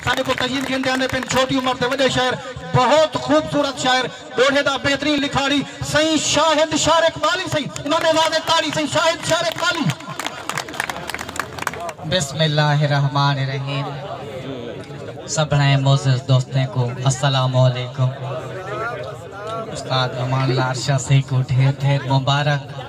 ساݙے کوں تجیم گھن تے آندے پن چھوٹی عمر تے وݙے شاعر بہت خوبصورت شاعر ݙوہے دا بہترین لکھاڑی سئیں شاہد شعر اقبالی سئیں امام زادے تاڑی سئیں شاہد شعر اقبالی۔ بسم اللہ الرحمن الرحیم سبھڑیں معزز دوستیں کوں السلام علیکم استاد امان لار شاہ سئیں کوں ڈھیر ڈھیر مبارک۔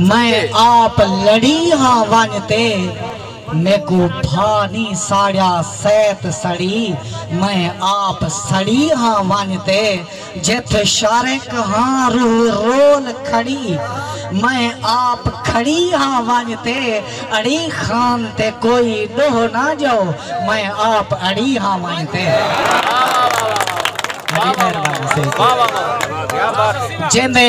میں آپ لڑی ہاں ونج تے میکوں بھا نی ساڑیا سیت سڑی میں آپ سڑی ہاں ونج تے جتھ شارک ہاں روح رول کھڑی میں آپ کھڑی ہاں ونج تے اڑی خان تے کوئی ڈوہ نہ جاؤ میں آپ اڑی ہاں ونج تے۔ جیندے۔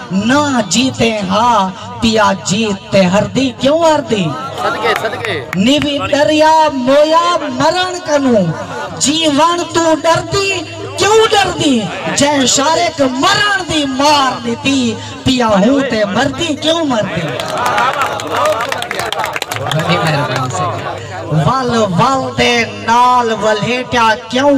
نہ جیتے ہا پیا جیت تے ہردی کیوں ہردی نیوی ڈریا مویا مرن کنوں جیون تو ڈردی کیوں ڈردی جے شارک مرن دی مار دیتی پیا ہوں تے مردی کیوں مردی ول ول دے نال ولیٹیا کیوں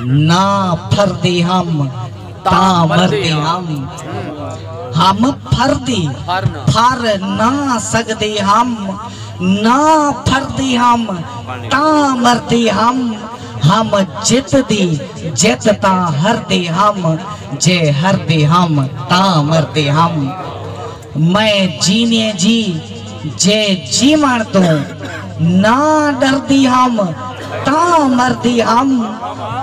نہ پھردی ہم تاں مردی ہم ہم پھردی پھر نہ سگدی ہم نہ پھردی ہم تاں مردی ہم ہم جت دی جت تاں ہردی ہم جے ہردی ہم تاں مردی ہم میں جینے جی جے جیوݨ توں نہ ݙردی ہم تاں مردی ہم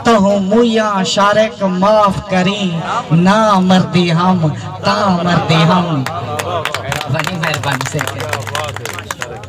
تہوں مویاں شارق معاف کریں نہ مردی ہم تاں مردی ہم وݙی مہربانی سیکے۔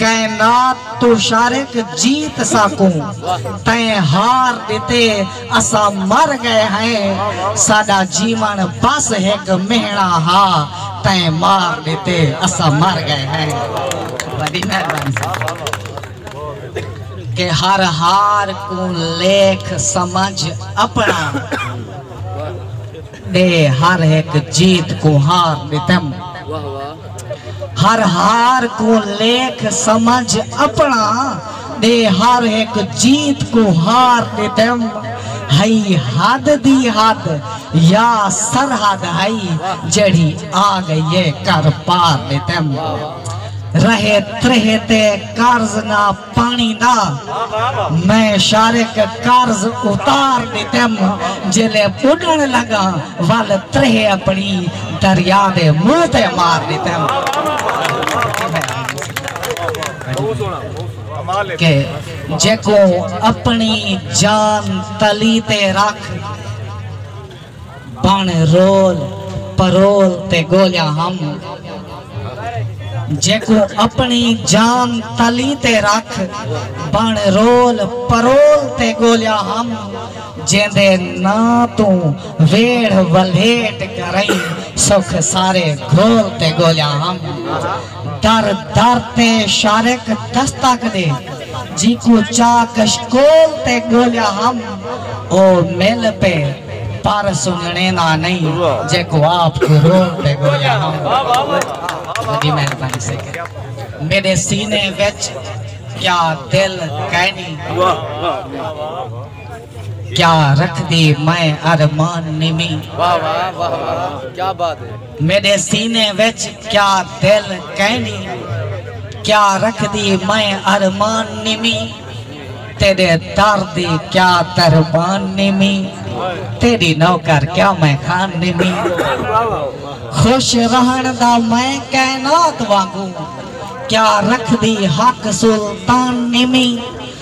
کائنات توں شارق جیت ساکوں تئیں ہار ݙتے اساں مر ڳئے ہئیں ساݙا جیوݨ بس ہک مہݨا ہا تئیں مار ݙتے اساں مر ڳئے ہئیں وݙی مہربانی ساڈی کہ ہر ہار کوں لیکھ سمجھ اپݨا تے ہر ہک جیت کوں ہار ݙتم۔ ہر ہار کوں لیکھ سمجھ اپݨا ݙے ہر ہک جیت کوں ہار ݙتم۔ ہئی حد دی حد یا سرحد ہئی جیڑھی آ ڳئی اے کر پار ݙتم۔ رہے تریہہ تے قرض نہ پانی دا میں شارک قرض اتار ڈتم جیلے بڈن لگاں ول ترہے اپنی دریا دے منہ تے مار ڈتم کہ جیکوں اپنی جان تلی تے رکھ بݨ رول پرول تے ڳولیاں ہم جیکوں اپݨی جان تلی تے رکھ بݨ رول پرول تے ڳولیاں ہم جیندے ناں توں ویڑھ ولھیٹ کرئیں سکھ سارے گھول تے ڳولیاں ہم در در تے شارق دستک دے جیکوں چاہ کشکول تے ڳولیا ہم او مل پے پر سنجݨے دا نئیں جیکوں آپ کوں رول تے ڳولیا ہم وݙی مہربانی سیکھے میݙے سینے وچ کیا دل کائنی کیا رکھ دی میں ارمان نیمی میݙے سینے وچ کیا دل کینی کیا رکھدی میں ارمان نیمی تیݙے در دی کیا دربان نیمی تیݙی نوکر کیا میں خان نیمی خوش رہݨ دا میں کائنات وانگوں کیا رکھدی حق سلطان نیمی